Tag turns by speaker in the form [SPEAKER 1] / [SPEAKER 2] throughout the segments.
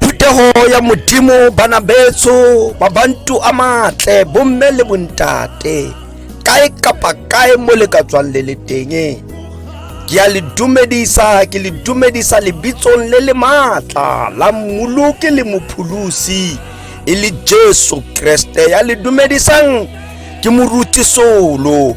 [SPEAKER 1] Phuthego ya Modimo bana betso mabantu a matle bomme le bontate kae kapa kae mo le ka tswang le le teng ke a le dumedisa ke le dumedisa lebitsong le le maatla la mmoloke le mopholosi e le jesu kreste ya le dumedisang ke moruti solo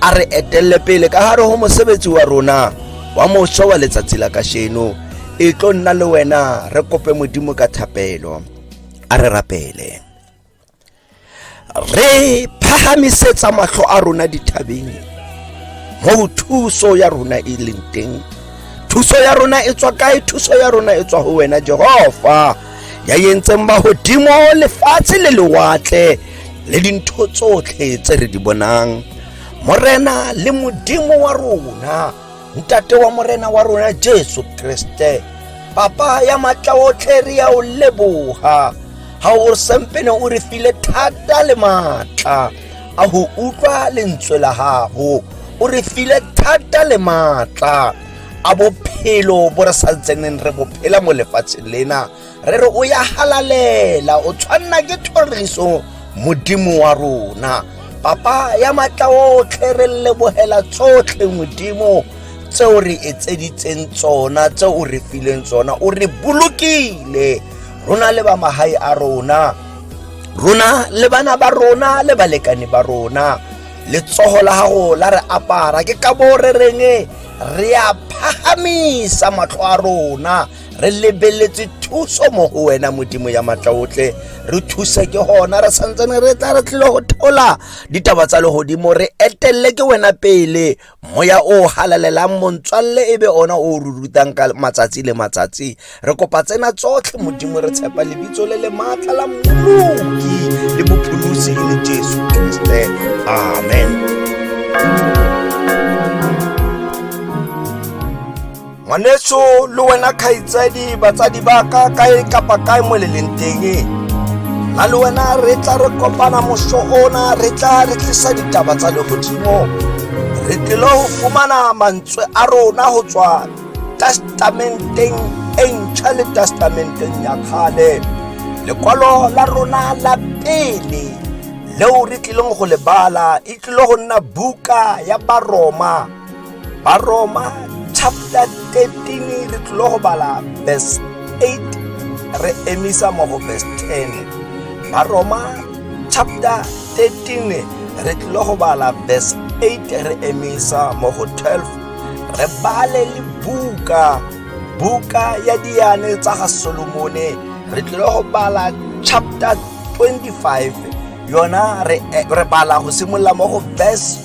[SPEAKER 1] a re etelele pele ka gare go mosebetsi wa rona wa moso wa letsatsi la kasheno e tlo nna le wena re kope modimo ka thapelo a re rapele re phagamisetsa matlho a rona dithabeng mo thuso ya rona e leng teng thuso ya rona e tswa kae thuso ya rona e tswa go wena jehova ya yentseng ba godimo lefatshe le lewatle le dintho tsotlhe tse re di bonang morena le modimo wa rona ntate wa morena wa rona jesu kriste papa ya matla otlhe re ya o leboga ga o sempene o re file thata le maatla a go utlwa lentswe la gago o re file thata le maatla a bophelo bo re sa ntseng re bophela mo lefatsheng lena re re o ya halalela o tshwanna ke thoriso modimo wa rona papa ya matla otlhe re lebogela tsotlhe modimo tseo re etseditseng tsona tseo o re fileng tsona o re bolokile rona le ba magae a rona rona le bana ba rona le balekane ba rona letsogo la gago la re apara ke ka bo re reng re a phagamisa matlho a rona re lebeletse thuso mo go wena modimo ya matla otlhe re thuse ke gona re santsene re tla re tlile go thola ditaba tsa legodimo re etelele ke wena pele moya o halalelang montswalle e be ona o re rutang ka matsatsi le matsatsi re kopa tsena tsotlhe modimo re tshepa lebitso le le maatla la mmoloki le bopholosi e le jesu kriste amen ngwanetso le wena kgaitsadi batsadi ba ka kae kapa kae mo le leng teng la le wena re tla re kopana moso ona re tla re tlisa ditaba tsa legodimo re tlile go fumana mantswe a rona go tswa testamenteng e ntšha le testamenteng ya kgale lekwalo la rona la pele leo re tlileng go le bala e tlile go nna buka ya baroma Baroma chapter 13 re tlile go bala verse 8 re emisa mo go verse 10 baroma chapter 13 re tlile go bala verse 8 re emisa mo go 12 re bale le buka buka ya diane tsa ga solomone re tlile go bala chapter 25 yona re, eh, re bala go simolola mo go verse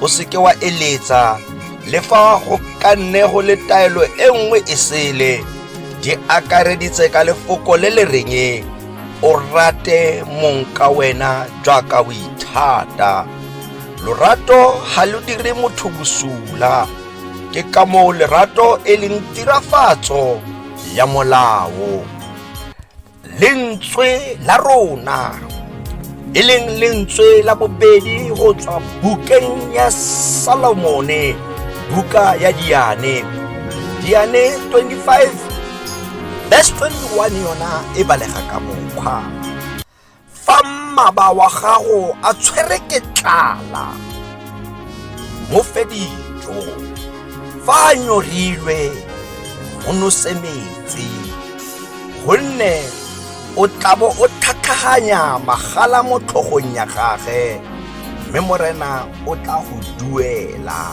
[SPEAKER 1] o seke wa eletsa le fa go ka nne go le taelo e nngwe e sele di akareditse ka lefoko le le reng o rate mong ka wena jaaka o ithata lorato ga lo dire motho bosula ke ka moo lerato e leng tirafatso ya molao lentswe la rona e leng lentswe la bobedi go tswa bukeng ya salomone buka ya diane diane 25 verse 21 yona e balega ka mokgwa fa mmaba wa gago a tshwere ke tlala mo fe dijo fa a nyorilwe o nose metsi gonne o tlabo o tlhatlhaganya magala mo tlhogong ya gage mme morena o tla go duela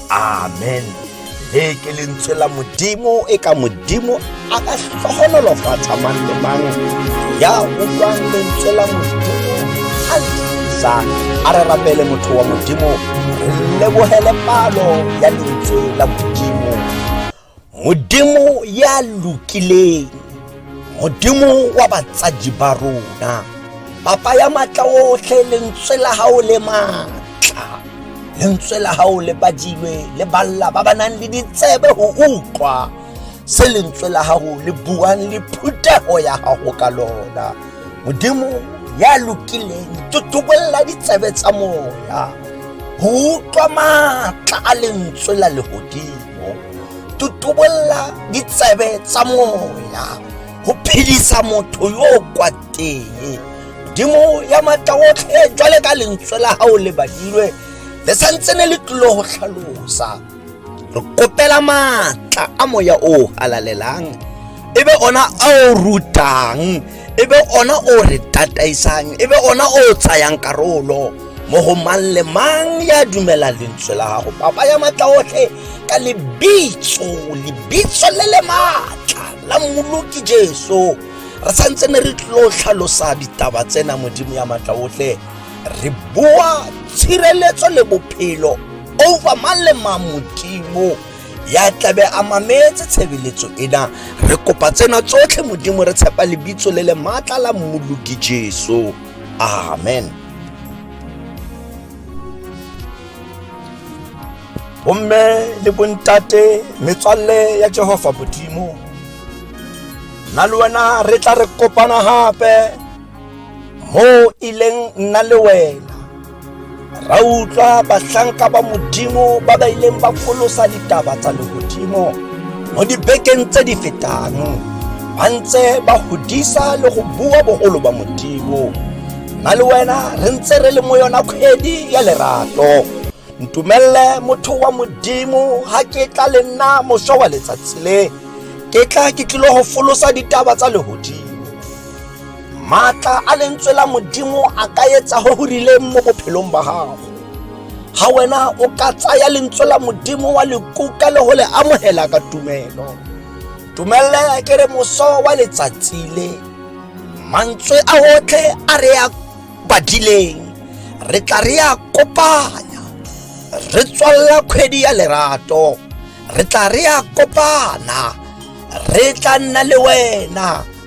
[SPEAKER 1] amen le ke lentswe la modimo e ka modimo a ka tlhogonolofatsa mang le mang ya utlwang lentswe la modimo a lisa a re rapele motho wa modimo re lebogele palo ya lentswe la modimo modimo ya lokileng modimo wa batsadi ba rona papa ya matla otlhe lentswe la gago le matla lentswe la gago le badilwe le balla ba ba nang le ditsebe go utlwa se lentswe la gago le buang le phuthego ya gago ka lona modimo ya lokileng totobolela ditsebe tsa moya go utlwa maatla a lentswe la legodimo tutubolla ditsebe tsa moya go phedisa motho yo o kwateng modimo ya matla otlhe jwale ka lentswe la gago le badilwe le santse ne le tlilo go tlhalosa re kopela maatla a moya o halalelang e be ona a o rutang e be ona o re tataisang e be ona o tsayang karolo mo go mang le mang ya dumela lentswe la gago papa ya matla otlhe ka lebitso lebitso le le maatla la mmoloki jesu re santse ne re tlo tlhalosa ditaba tsena modimo ya matla otlhe re boa tshireletso le bophelo over mang le mang modimo ya tlabe a mametse tshebeletso ena re kopa tsena tsotlhe modimo re tshepa lebitso le le maatla la mmoloki jesu amen bomme le bontate metswalle ya jehova modimo nna le wena re tla re kopana gape mo ileng nna le wena ra utlwa bahlanka ba modimo ba ba ileng ba folosa ditaba tsa legodimo mo dibekeng tse di fetang ba ntse ba godisa le go bua bogolo ba modimo nna le wena re ntse re le mo yona kgwedi ya lerato ntumelele motho wa modimo ga ke tla le nna moswa wa letsatsi le ke tla ke tlile go folosa ditaba tsa legodimo maatla a lentswe la modimo a ka etsa go go rileng mo bophelong ba gago ga wena o ka tsaya lentswe la modimo wa lekuka le go le amogela ka tumelo tumelele ke re moso wa letsatsi le mantswe a otlhe a re ya badileng re tla re ya kopanya re tswalela kgwedi ya lerato re tla re ya kopana re tla nna le wena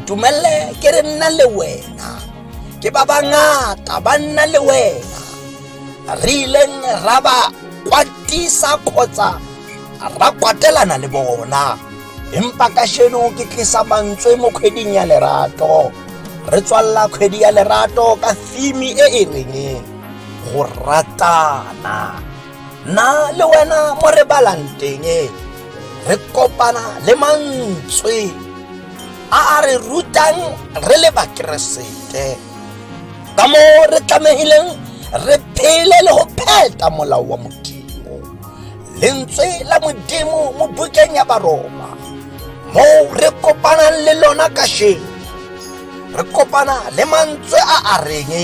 [SPEAKER 1] ntumelele ke re nna le wena ke ba bangata ba nna le wena re ileng ra ba kwatisa kgotsa ra kwatelana le bona empa ka sheno ke tlisa mantswe mo kgweding ya lerato re tswalela kgwedi ya lerato ka theme e e reng go ratana nna le wena mo re balang teng e, re kopana le mantswe a a re rutang re le bakeresete ka moo re tlamehileng re phele le go pheta molao wa modimo lentswe la modimo mo bukeng ya baroma moo re kopanang le lona kasheno re kopana le mantswe a a reng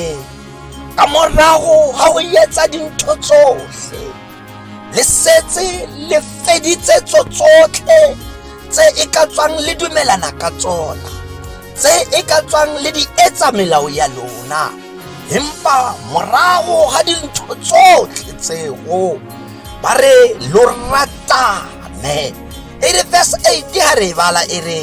[SPEAKER 1] ka morago ga go etsa dintho tsotlhe le setse le feditse tso tsotlhe tse e ka tswang le dumelana ka tsona tse e ka tswang le di etsa melao ya lona empa morago ga dintho tsotlhe tseo ba re lo ratane e re verse 8 ga re e bala e re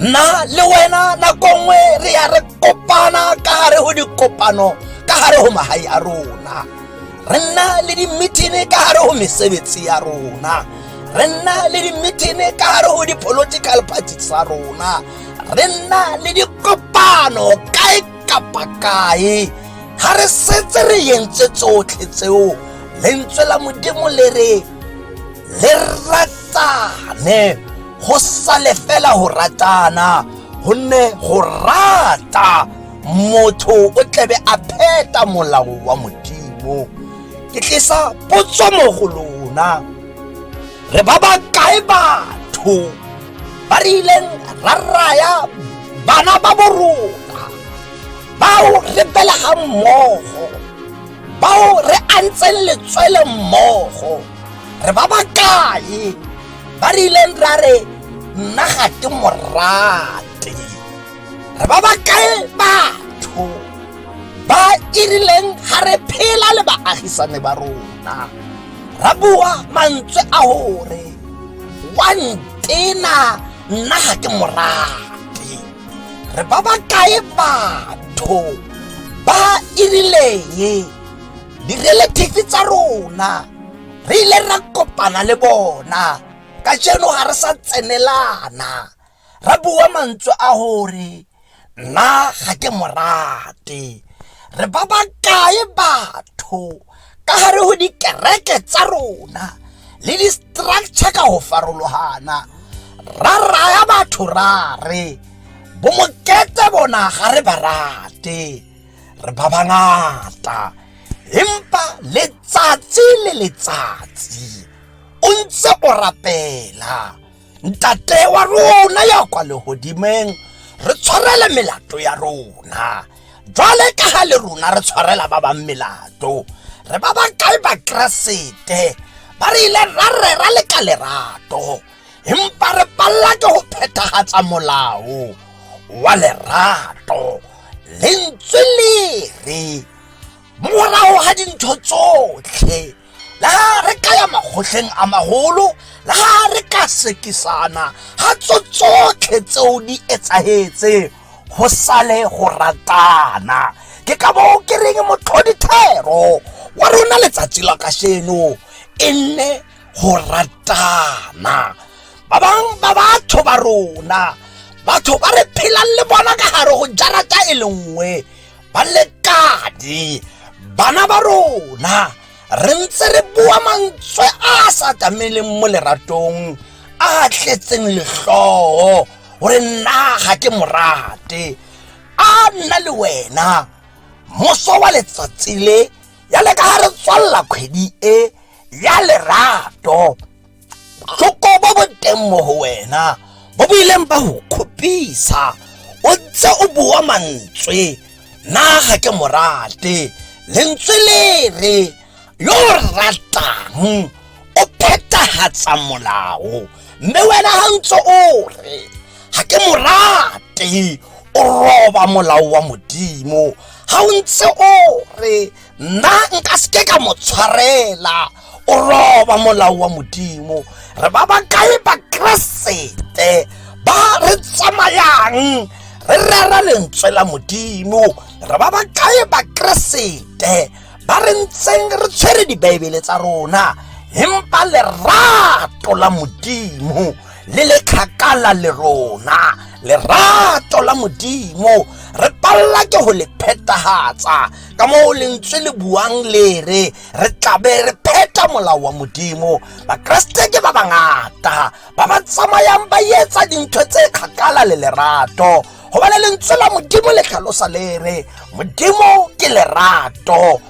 [SPEAKER 1] nna le wena nako nngwe re ya re kopana ka gare go dikopano ka gare go magae a rona re nna le dimithini ka gare go mesebetsi ya rona re nna le dimithini ka gare go di-political party tsa rona re nna le dikopano kae kapa kae ga re setse re yentse tsotlhe tseo lentswe la modimo le re le ratane go sale fela go ratana gonne go rata motho o tlabe a pheta molao wa modimo ke tlisa potso mo go lona re ba ba kae batho ba re ileng ra raya bana ba bo rona bao re belegang mmogo bao re antseng letswele mmogo re ba ba kae ba rileng ra re nna ga ke morate re ba ba kae batho ba e rileng ga re phela le baagisane ba rona ra bua mantswe a gore wa ntena nna ga ke morate re ba ba kae batho ba e rileng di-relative tsa rona re ile ra kopana le bona ka jeno ga re sa tsenelana ra bua mantswe a gore nna ga ke morate re ba ba kae batho ka gare go dikereke tsa rona le di-structure ka go farologana ra raya batho ra re bomokete bona ga re ba rate re ba bangata empa letsatsi le letsatsi o ntse o rapela ntate wa rona ya kwa lehodimeng re tshwarele melato ya rona jwale ka ga le rona re tshwarela ba bang melato re ba ba kae bakeresete ba re ile ra rera le ka lerato empa re palla ke ho phethahatsa molao wa lerato lentswe le re morago ga dintho tsotlhe le ga re ka ya makgotleng a magolo le ga re ka sekisana ga tso tsotlhe tseo di etsagetse go sale go ratana ke ka bo ke reng motlhodithero wa rona letsatsi la kasheno e nne go ratana ba bang ba batho ba rona batho ba re phelang le bona ka gare go jarata e le nngwe ba lekane bana ba rona re ntse re bua mantswe a a sa tameleng mo leratong a a tletseng letlhogo gore nna ga ke morate a nna le wena moso wa letsatsi le ya le ka ga re tswalela kgwedi e ya lerato tlhoko bo bo teng mo go wena bo bo ileng ba go kgopisa o ntse o bua mantswe na ga ke morate lentswe le re yo o ratang o phethagatsa molao mme wena ga ntse o re ga ke morate o roba molao wa modimo ga o ntse o re nna nka seke ka mo tshwarela o roba molao wa modimo re ba ba kae bakeresete ba re tsamayang re rera lentswe la modimo re ba ba kae bakeresete ba re ntseng re tshwere dibaebele tsa rona empa lerato la modimo le le kgakala le rona lerato la modimo re palelwa ke go le phetagatsa ka moo lentswe le buang le re re tlabe re pheta molao wa modimo bakeresete ke ba bangata ba ba tsamayang ba etsa dintho tse kgakala le lerato gobane lentswe la modimo le tlhalosa le re modimo ke lerato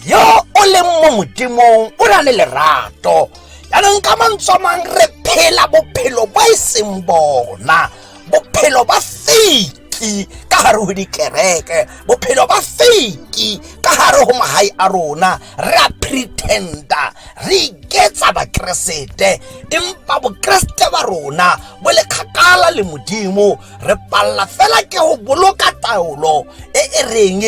[SPEAKER 1] yo o leng mo modimong o na le lerato jaanong ka mantswe mang re phela bophelo bo e seng bona bophelo ba fake fake ka gare go dikereke bophelo ba fake ka gare go magae a rona re a pretenda re iketsa bakeresete empa bokeresete ba rona bo le kgakala le modimo re palela fela ke go boloka taolo e e reng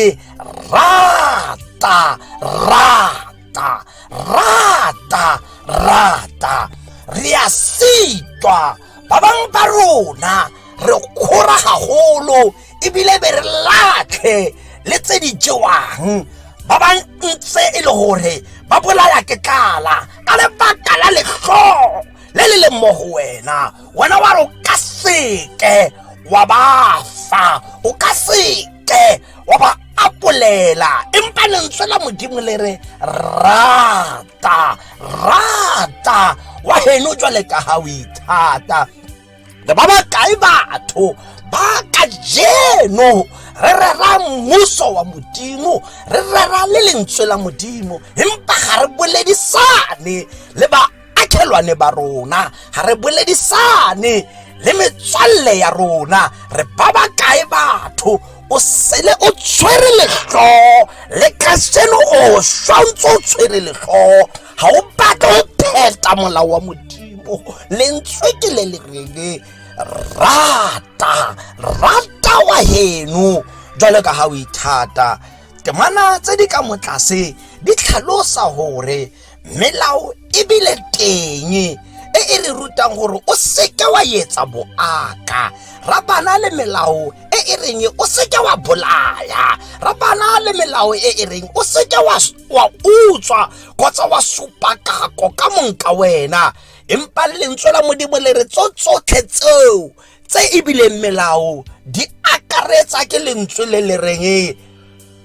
[SPEAKER 1] rata rata rata rata rata re a sitwa ba bangwe ba rona re kgora gagolo ebile be re latlhe le tse di jewang ba ba ntse e le gore ba bolaya ke tlala ka lebaka la letlhoo le le leng mo go wena wena wa re o ka seke wa ba fa o ka seke wa ba apolela empa lentswe la modimo le re rata rata wa heno jwale ka ha o ithata le ba bakae batho ba ka jeno re rera mmuso wa modimo re rera le lentswe la modimo empa ga re boledisane le ba akhelwane ba rona ga re boledisane le metswalle ya rona re ba ba kae batho o sele o tshwere letlhoo le ka seno o swa ntse o tshwere letlhoo ga o batle go pheta molao wa modimo lentswe ke le le rele rata rata wa heno jalo ka ga o ithata temana tse di ka motlase di tlhalosa gore melao ebile teng e e re rutang gore o seke wa etsa boaka ra bana le melao e e reng o seke wa bolaya ra bana le melao e e reng o seke wa wa utswa kgotsa wa supa kako ka monka wena empa lentswe la modimo le re tso tsotlhe tseo tse ebile melao di akaretsa ke lentswe le le reng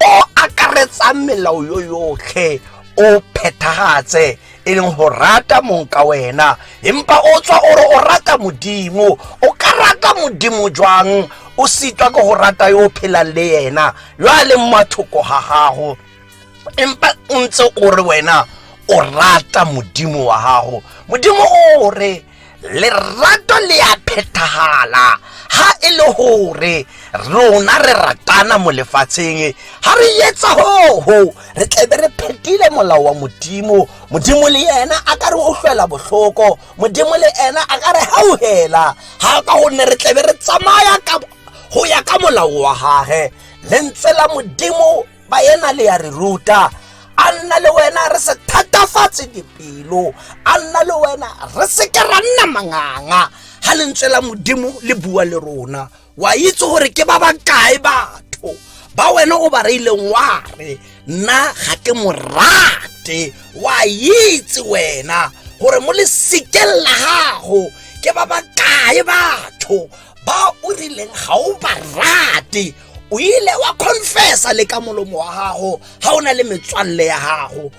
[SPEAKER 1] o akaretsang melao yo yotlhe o phethagatse e leng go rata mong ka wena empa o tswa o re o rata modimo o ka rata modimo jwang o sitwa ke go rata yo o phelang le yena yo a leng mathoko ga gago empa o ntse o re wena o rata modimo wa gago modimo o re lerato le a phethagala ga e le gore rona re ratana mo lefatsheng ga re etsa gogo re tlebe re phetile molao wa modimo modimo le ena a ka re utlwela botlhoko modimo le ena a ka re gauhela ga ka gonne re tlebe re tsamaya go ya ka molao wa gage lentswe la modimo baena le ya re ruta a nna le wena re se thatafatse dipelo a nna le wena re seke ra nna manganga ga lentswe la modimo le bua le rona wa itse gore ke ba ba kae batho ba wena o ba reileng wa re nna ga ke mo rate wa itse wena gore mo lesekeng la gago ke ba ba kae batho ba o rileng ga o ba rate o ile wa confessa le ka molomo wa gago ga o na le metswalle ya gago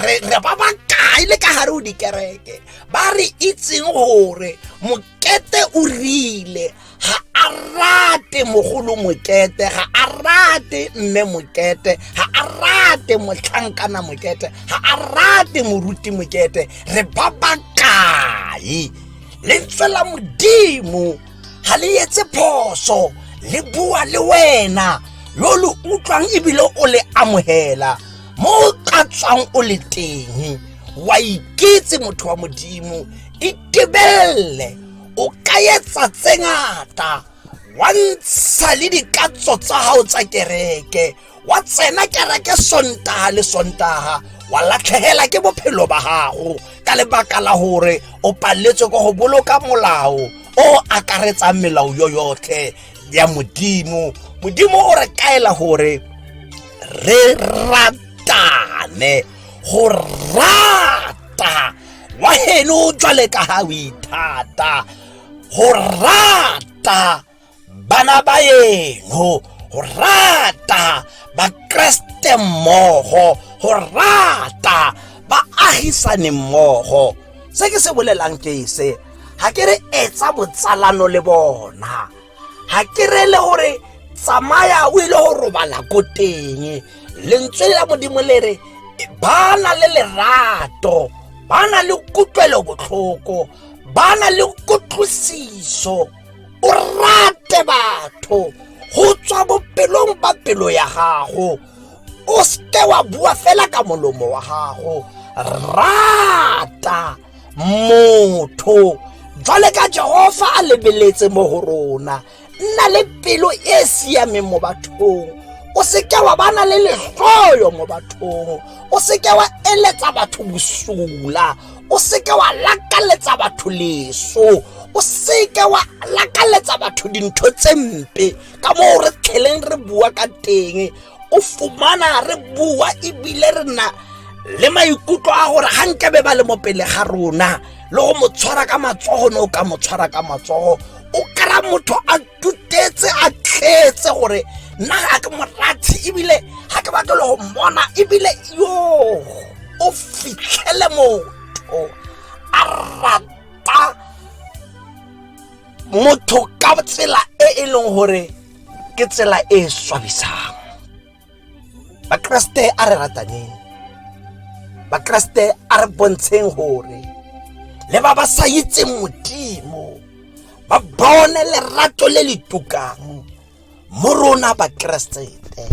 [SPEAKER 1] re ba ba kae le ka gare o dikereke ba re itseng gore mokete o rile ga a rate mogolo mokete ga a rate mme mokete ga a rate motlhankana mokete ga a rate moruti mokete re ba ba kae lentswe la modimo ga le etse phoso le bua le wena yo lo utlwang ebile o le amogela mo o ka tswang o le teng wa iketse motho wa modimo itebelele o ka etsa tse ngata wa ntsha le dikatso tsa gago tsa kereke wa tsena kereke sontaga le sontaga wa latlhegela ke bophelo ba gago ka lebaka la gore o paletswe ko go boloka molao o akaretsang melao yo yotlhe ya modimo modimo o re kaela gore re ratane go rata wa heno jwale ka ga o ithata go rata bana ba eno go rata bakreste mmogo go rata baagisane mmogo se ke se bolelang ke se ga ke re etsa botsalano le bona ga ke re le gore tsamaya o ile go robala ko teng lentswe la modimo le re ba na le lerato ba na le kutlwelobotlhoko ba na le kutlwisiso o rate batho go tswa bopelong ba pelo ya gago o seke wa bua fela ka molomo wa gago rata motho jwale ka jehofa a lebeletse mo go rona nna le pelo e e siameng mo bathong o seke wa bana le letlhoyo mo bathong o seke wa eletsa batho bosula o seke wa lakaletsa batho leso o seke wa lakaletsa batho dintho tse mpe ka moo re tlheleng re bua ka teng o fumana re bua ebile re na le maikutlo a gore ga nkebe ba le mo pele ga rona le go mo tshwara ka matsogo ne o ka mo tshwara ka matsogo o kry-a motho a tutetse a tletse gore nna ga ke morathe ebile ga ke batle le go mmona ebile yo o fitlhele motho a rata motho ka tsela e e leng gore ke tsela e e swabisang bakeresete a re rataneng bakeresete a re bontsheng gore le ba ba sa itseng modimo ba bone lerato le le tukang mo rona bakeresete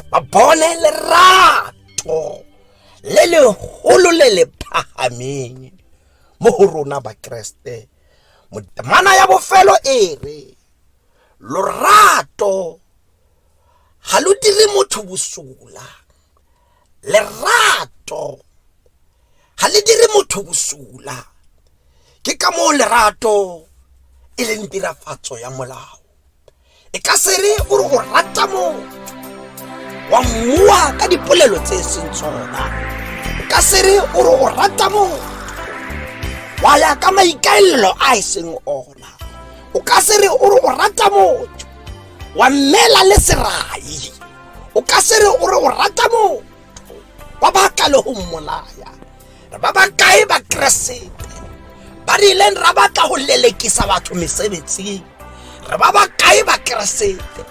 [SPEAKER 1] ba bone lerato le legolo le le phagameng mo go rona bakeresete motemana ya bofelo e re lorato ga lo dire motho bosola lerato ga le dire motho bosola ke ka moo lerato e leng tirafatso ya molao e ka se re o re o rata motho wa mmoa ka dipolelo tse e seng tsona e ka se re o re o rata motho wa ya ka maikaelelo a e seng ona o ka se re o re o rata motho wa mmela le serai o ka se re o re o rata motho wa ba ka le go mmolaya re ba ba kae ba keresete ba re ileng ra batla go lelekisa batho mesebetsing re ba ba kae ba keresete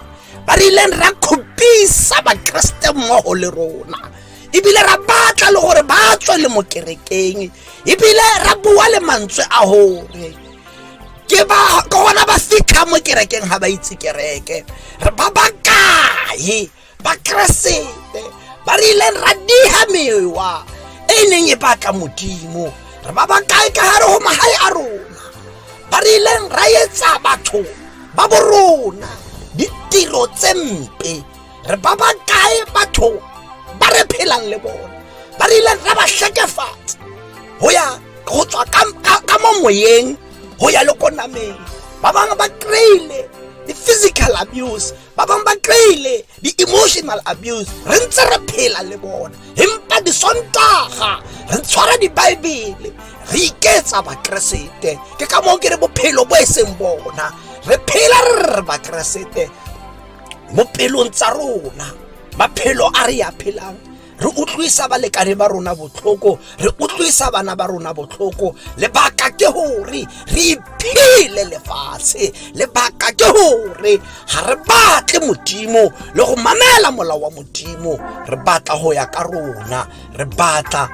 [SPEAKER 1] ba re ileng ra kgopisa bakeresete mmogo le rona ebile ra batla le gore ba tswe le mo kerekeng ebile ra bua le mantswe a gore ke ba ke gona ba fitlha mo kerekeng ga ba itse kereke ba ba kae bakeresete ba re ileng ra diga mewa e e neng e batla modimo re ba ba kae ka gare go magae a rona ba re ileng ra etsa batho ba borona ditiro tse mpe re ba ba kae batho ba re phelang le bone ba re ileng ra ba tlhekefatsa go ya go tswa ka mo moyeng go ya le ko nameng ba bangwe ba kry-ile di-physical abuse ba bangwe ba kry-ile di-emotional abuse re ntse re phela le bona empa disontaga re tshwara dibaebele re iketsa bakeresete ke ka moo ke re bophelo bo e seng bona re phela re re bakeresete mo pelong tsa rona maphelo a re ya phelang re utlwisa balekane ba rona botlhoko re utlwisa bana ba rona botlhoko lebaka ke gore re iphele lefatshe lebaka ke gore ga re batle modimo le go mamela molao wa modimo re batla go ya ka rona re batla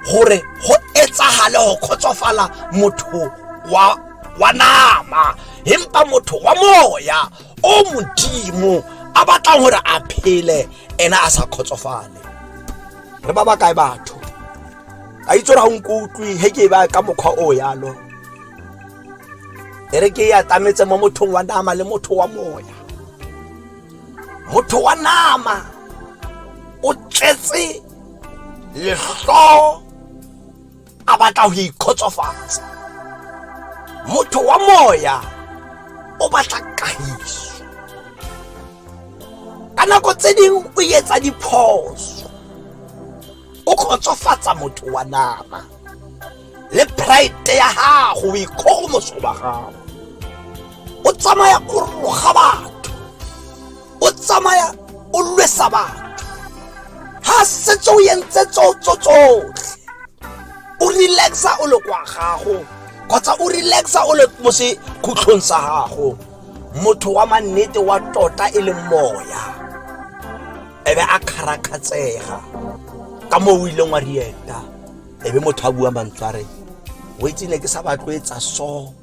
[SPEAKER 1] gore go etsagale go kgotsofala motho wa wa nama empa motho wa moya o modimo a batlang gore a phele ena a sa kgotsofale re ba ba kae batho a itse gore ga o nko utlwe he ke e ba ka mokgwa o yalo e re ke e atametse mo mothong wa nama le motho wa moya motho wa nama o tletse letlho a batla ho ikgotsofatsa motho wa moya o batla kahiso ka nako tse ding o etsa diphoso o kgotsofatsa motho wa nama le pride ya gago o ikgogomoso ba gago o tsamaya o roga batho o tsamaya o lwesa batho ga setse o entse tsotso tsotlhe o relaxa o le kwa gago kgotsa o relaxa o le mo sekhutlhong sa gago motho wa mannete wa tota e leng moya ebe a kgarakgatsega ka moo o ileng wa rieta ebe motho a bua mantsware o itse ne ke sa batlwetsa so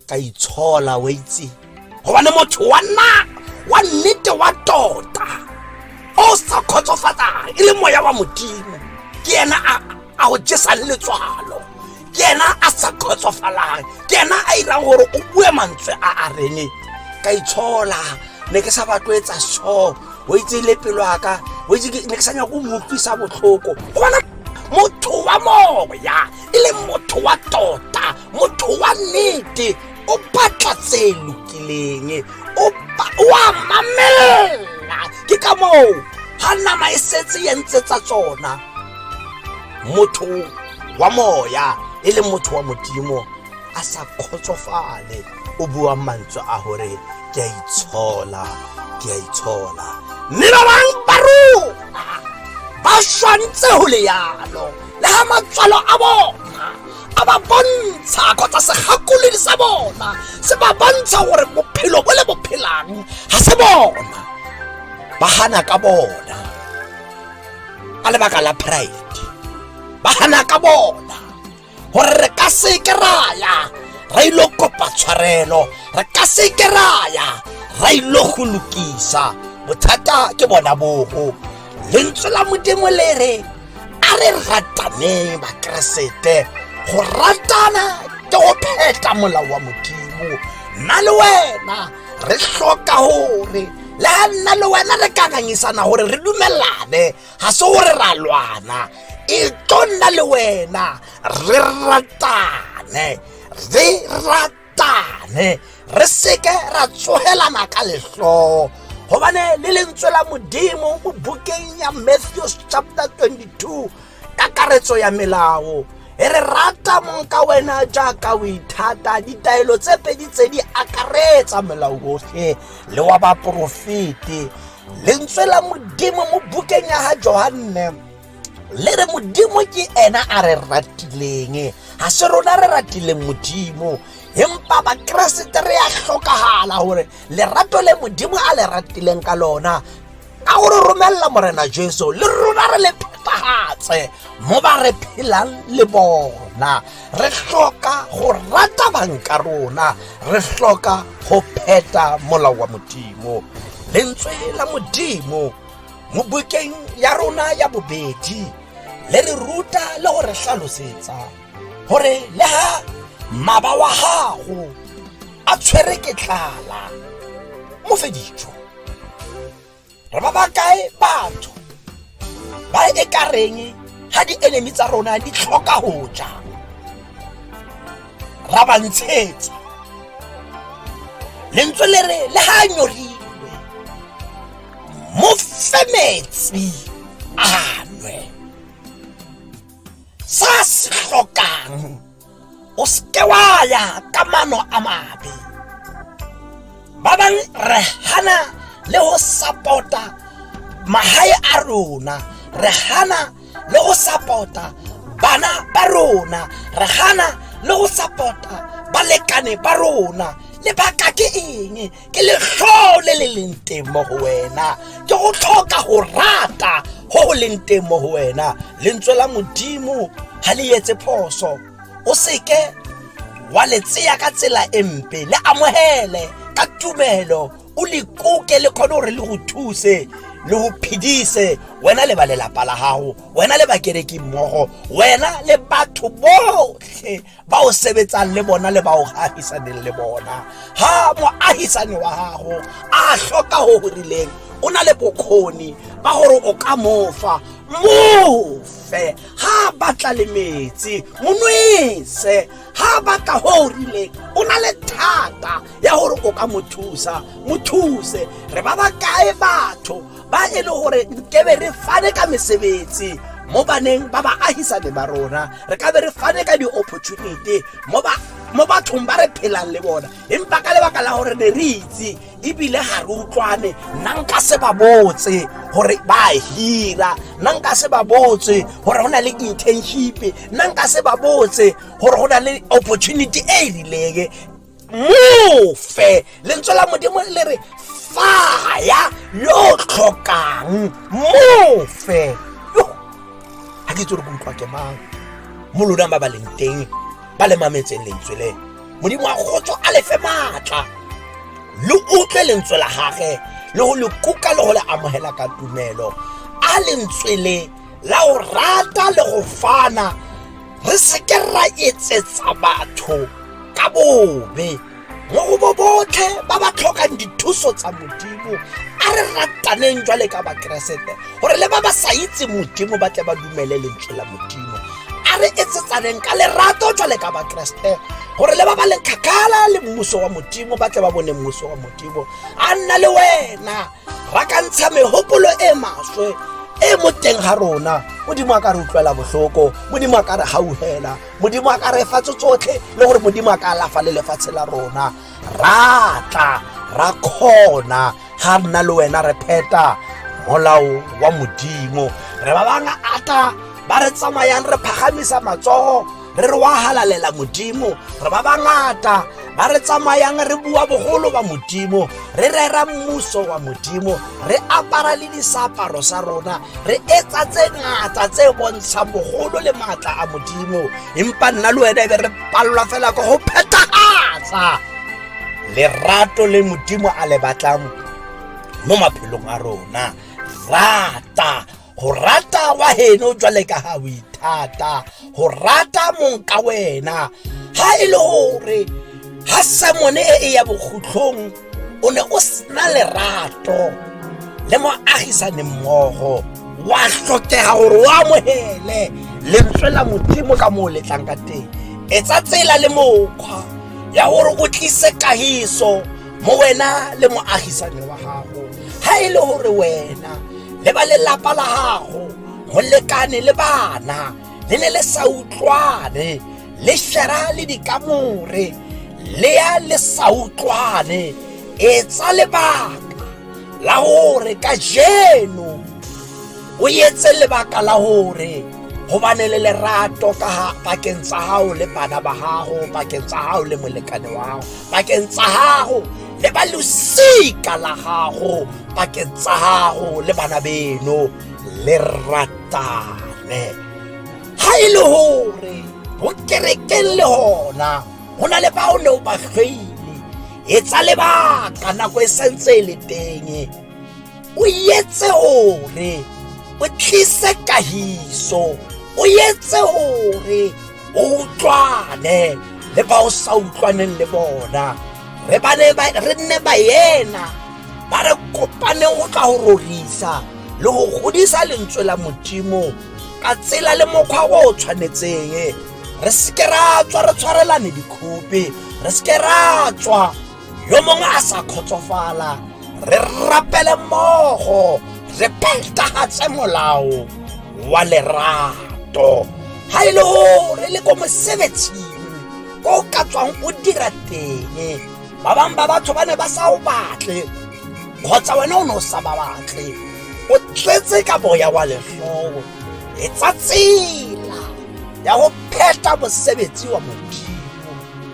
[SPEAKER 1] ka itshola wa itse gobane motho wa nna wa nnete wa tota o sa kgotsofatsang e le moya wa modimo ke ena a go jesang letswalo ke ena a sa kgotsofalang ke ena a irang gore o bue mantswe a a rene ka itshola ne ke sa batloetsa so o itse le pelo aka o itse ne ke sa nyako o motlwisa botlhoko gobana motho wa moya e leng motho wa tota motho wa nnete o batla tse lokileng o a mamelela ke ka moo ga nama e setse ya ntse tsa tsona motho wa moya e le motho wa modimo a sa kgotsofale o buang mantswe a gore ke a itshola ke a itshola mme ba bang ba rona ba swantse go le yalo le ga matswalo a bona a ba bontsha kgotsa segakolodi sa bona se ba bontsha gore bophelo bo le bo phelang ga se bona ba gana ka bona ka lebaka la pride ba gana ka bona gore re ka seke raya ra ilo kopa tshwarelo re ka seke raya ra ilo go lokisa bothata ke bona bogo lentswe la modimo le re a re rataneng bakeresete go ratana ke go pheta molao wa modimo nna le wena re tlhoka gore le ga nna le wena re kakangisana gore re dumelane ga se gore ra lwana e tlo nna le wena re ratane re ratane tane re seke ra tsogelana ka letlhoo gobane le lentswe la modimo mo bukeng ya matthews chapter 22 kakaretso ya melao e re rata mong ka wena jaaka o ithata ditaelo tse pedi tse di akaretsa melao otlhe le wa baporofete lentswe la modimo mo bukeng ya ga johanne le re modimo ke ena a re ratileng ga se rona re ratileng modimo empa bakeresete re ya tlhokagala gore lerato le modimo a le ratileng ka lona ka gore romelela morena jesu le rona re le phethagatse mo ba re phelang le bona re tlhoka go rata banka rona re tlhoka go pheta molao wa modimo lentswe la modimo mo bukeng ya rona ya bobedi le re ruta le go re tlhalosetsa gore le ga maba wa gago a tshwere ke tlala mo fe dijo re ba ba kae batho ba e ka reng ga di-enemy tsa rona di tlhoka go ja ra ba ntshetsa lentswe le re le ga a nyorile mo fe metsi a nwe sa se tlhokang o seke wa ya ka mano a mabe ba bang re hana le go sapota magae a rona re hana le go sapota bana ba rona re hana le go sapota balekane ba rona lebaka ke eng ke letlhoo le le leng teng mo go wena ke go tlhoka go rata go go leng teng mo go wena lentswe la modimo ga le etse phoso o seke wa le tseya ka tsela e mpe le amogele ka tumelo o le koke le kgone gore le go thuse le go phedise wena le ba lelapa la gago wena le bakereki mmogo wena le batho botlhe ba o sebetsang le bona le ba o ahisaneng le bona ha moahisane wa gago a hloka go go rileng o na le bokgoni ba gore o ka mofa mofe ha batla le metsi monwese ha batla go o rileng o na le thata ya gore o ka mo thusa mo thuse re ba ba kae batho ba e le gore ke be re fane ka mesebetsi mo baneng ba baagisane ba rona re ka be re fane ka di-opportunity mo ba mo bathong ba re phelang le bona empa ka lebaka la gore ne re itse ebile ga re utlwane nna nka se ba botse gore ba hira nna nka se ba botse gore go na le internship nna nka se ba botse gore go na le opportunity e e rileng mofe lentswe la modimo le re faya yo tlhokang mofe yo ga ke itse gore ke utlwa ke mang mo lona ba ba leng teng ba le mametseng lentswe le modimo wa kgotso a lefe maatla lo utlwe lentswe la gage le go le kuka le go le amogela ka tumelo a lentswe le la go rata le go fana re seke ra etsetsa batho ka bobe mo go bo botlhe ba ba tlhokang dithuso tsa modimo a re rataneng jwale ka bakeresete gore le ba ba sa itse modimo ba tle ba dumele lentswe la modimo a re etsetsaneng ka lerato jwale ka bakeresete gore le ba ba leng kgakala le mmuso wa modimo ba tle ba bone mmuso wa modimo a nna le wena ra ka ntsha megopolo e maswe e mo teng ga rona modimo a ka re utlwela botlhoko modimo a ka re gauhela modimo a ka re fatso tsotlhe le gore modimo a ka alafa le lefatshe la rona ra tla ra kgona ga nna le wena re pheta molao wa modimo re ba bangata ba re tsamayang re phagamisa matsogo re re wa halalela modimo re ba bangata ba re tsamayang re bua bogolo ba modimo re rera mmuso wa modimo re apara le diseaparo sa rona re etsa tse ngata tse bontshang bogolo le maatla a modimo empa nna le wena e be re palelwa fela ka go phethagatsa lerato le modimo a le batlang mo maphelong a rona rata go rata wa heno jwale ka ga o ithata go rata mong ka wena ga e le gore ga semone e e ya bokhutlhong o ne o sena lerato le moagisane mmogo wa tlhokega gore o amogele lentswe la modimo ka moo letlang ka teng etsa tsela le mokgwa ya gore o tlise kagiso mo wena le moagisane wa gago ga e le gore wena le ba lelapa la gago molekane le bana le ne le sa utlwane le shera le dikamore le ya le sa utlwane e tsa lebaka la gore ka jeno o etse lebaka la gore gobane le lerato ka bakeng tsa gago le bana ba gago bakeng tsa gago le molekane wa gago bakeng tsa gago le ba losika la gago bakeng tsa gago le bana beno le ratane ga e le gore go kerekeng le gona go na le bao ne o ba tlhoile e tsa lebaka nako e santse e le teng o etse hore o tlise kahiso o etse hore o utlwane le ba o sa utlwaneng le bona re bane re nne baena ba re kopaneng go tla go rorisa le go godisa lentswe la modimo ka tsela le mokgwa o o tshwanetseng re seke ra tswa re tshwarelane dikhope re seke ra tswa yo mongwe a sa kgotsofala re rapele mmogo re phetagatse molao wa lerato ga e le go re le ko mosebetsing ko o ka tswang o dira teng ba bangwe ba batho ba ne ba sa o batle kgotsa wena o ne o sa ba batle o tletse ka boya wa letlhogo e tsa tsela ya go pheta mosebetsi wa modimo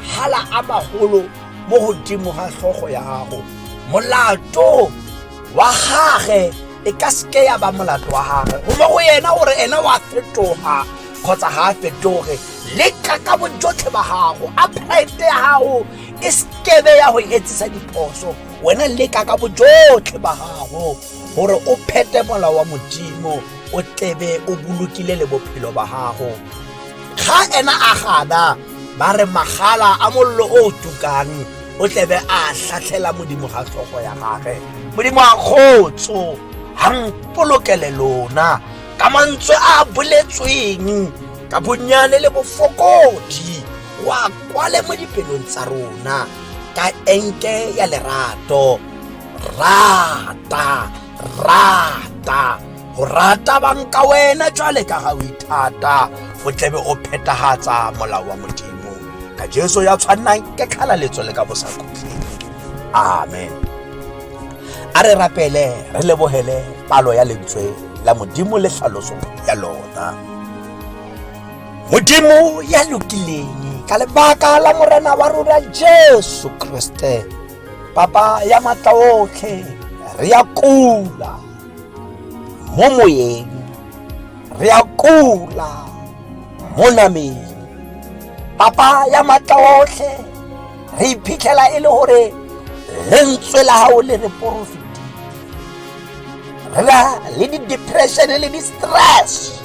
[SPEAKER 1] hala a magolo mo godimo ga tlhogo ya gago molato wa gage e ka seke ya ba molato wa gage go mo go yena gore ene wa fetoga kgotsa ga a fetoge leka ka bojotlhe ba gago a pride ya gago e sekebe ya go etsisa diphoso wena leka ka bojotlhe ba gago gore o phete mola wa modimo o tlebe o bolokile le bophelo ba gago ga ena a gana ba re magala a mollo o o tukang o tlebe a tlhatlhela modimo ga tlhogo ya gage modimo a kgotso ga mpolokele lona ka mantswe a a boletsweng ka bonnyane le bofokodi wa kwale mo dipelong tsa rona ka enke ya lerato rata rata go rata bang ka wena jwale ka ga o ithata go tlebe o phethagatsa molao wa modimo ka jesu ya tshwannang ke tlhalaletso le ka bosakhutleng amen a re rapele re lebogele palo ya lentswe la modimo le tlhaloso ya lona modimo ya lokileng ka lebaka la morena wa rona jesu kriste papa ya matla otlhe re ya kula mo moyeng re a kula mo nameng papa ya matla otlhe re iphitlhela e le gore lentswe la gago le re porofiti re na le di-depression le di-stress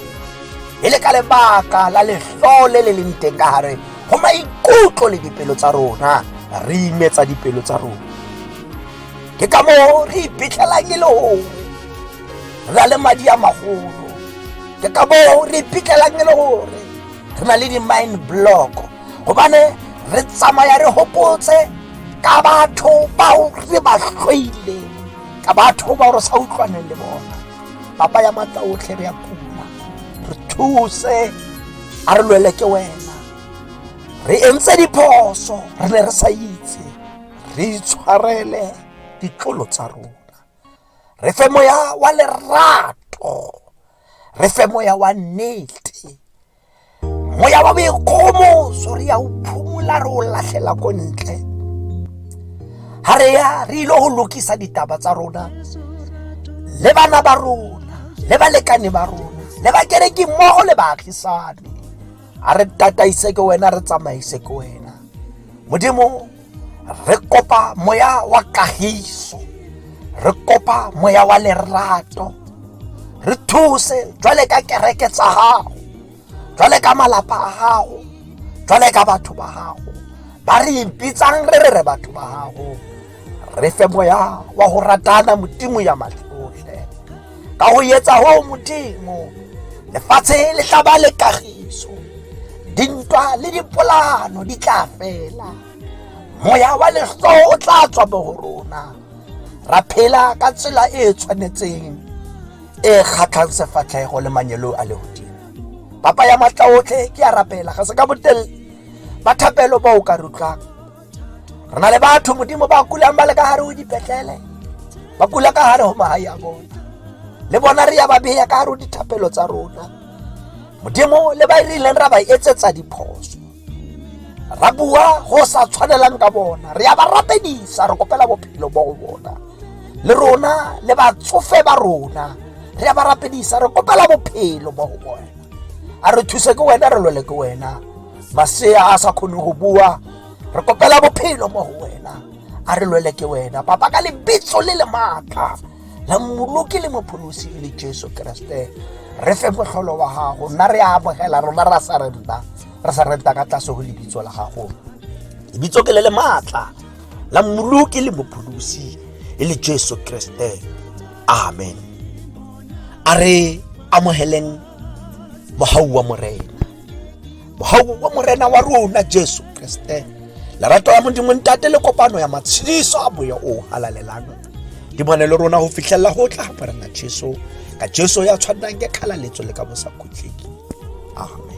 [SPEAKER 1] e le ka lebaka la letlole le leng teng ka gare go maikutlo le dipelo tsa rona re imetsa dipelo tsa rona ke ka moo re iphitlhelang e le gongwe re na le madi a magolo ke ka moo re iphitlhelang e le gore re na le di-mine block gobane re tsamaya re gopotse ka batho bao re ba tlhoileng ka batho bao re sa utlwaneng le bona papa ya matla otlhe re ya kuma re thuse a re lwele ke wena re entse diphoso re ne re sa itse re itshwarele ditlolo tsa rona re fe moya wa lerato re fe moya wa nnete moya wa boikgomoso re ya o phumola re o latlhela ko ntle ga re ya re ile go lokisa ditaba tsa rona le bana ba rona le balekane ba rona le bakereki mmogo le baagisane a re tataise ke wena re tsamaise ke wena modimo re kopa moya wa kagiso re kopa moya wa lerato re thuse jwale ka kereke tsa gago jwale ka malapa a gago jwale ka batho ba gago ba re ipitsang re re re batho ba gago re fe moya wa go ratana modimo ya matlole ka ho etsa hoo modimo lefatshe le tla ba le kagiso dintwa le dipolano di tla fela moya wa leso o tla tswa bo go rona ra phela ka tsela e e tshwanetseng e e kgatlhang sefatlhego le manyelo a legodimo papa ya matla otlhe ke ya rapela ga se ka botelele ba thapelo ba o ka rutlwang re na le batho modimo ba kulang ba le ka gare o dipetlele ba kula ka gare go magae a bona le bona re ya ba beya ka gare o dithapelo tsa rona modimo le ba e re ileng ra ba etsetsa diphoso ra bua go sa tshwanelang ka bona re ya ba rapedisa re kopela bophelo bo go bona le rona le batsofe ba rona re ya ba rapedisa re kopela bophelo bo go bona a re thuse ke wena re lwele ke wena masea a sa kgone go bua re kopela bophelo mo go wena a re lwele ke wena papa ka lebitso le le maatla la mmoloki le mopholosi e le jesu keresete re fe motlholo wa gago nna re a amogela rona ra sa renta re sa renta ka tlase go lebitso la gago lebitso ke le le maatla la mmoloki le mopholosi e le jesu keresete amen a re amogeleng mogau wa morena mogau wa morena wa rona jesu kriste lerato la modimo ntate le kopano ya matshediso a boya o halalelang di bone le rona go fitlhelela go tla morena jesu ka jesu ya tshwanang ke kgalaletso le ka bosa khutleki amen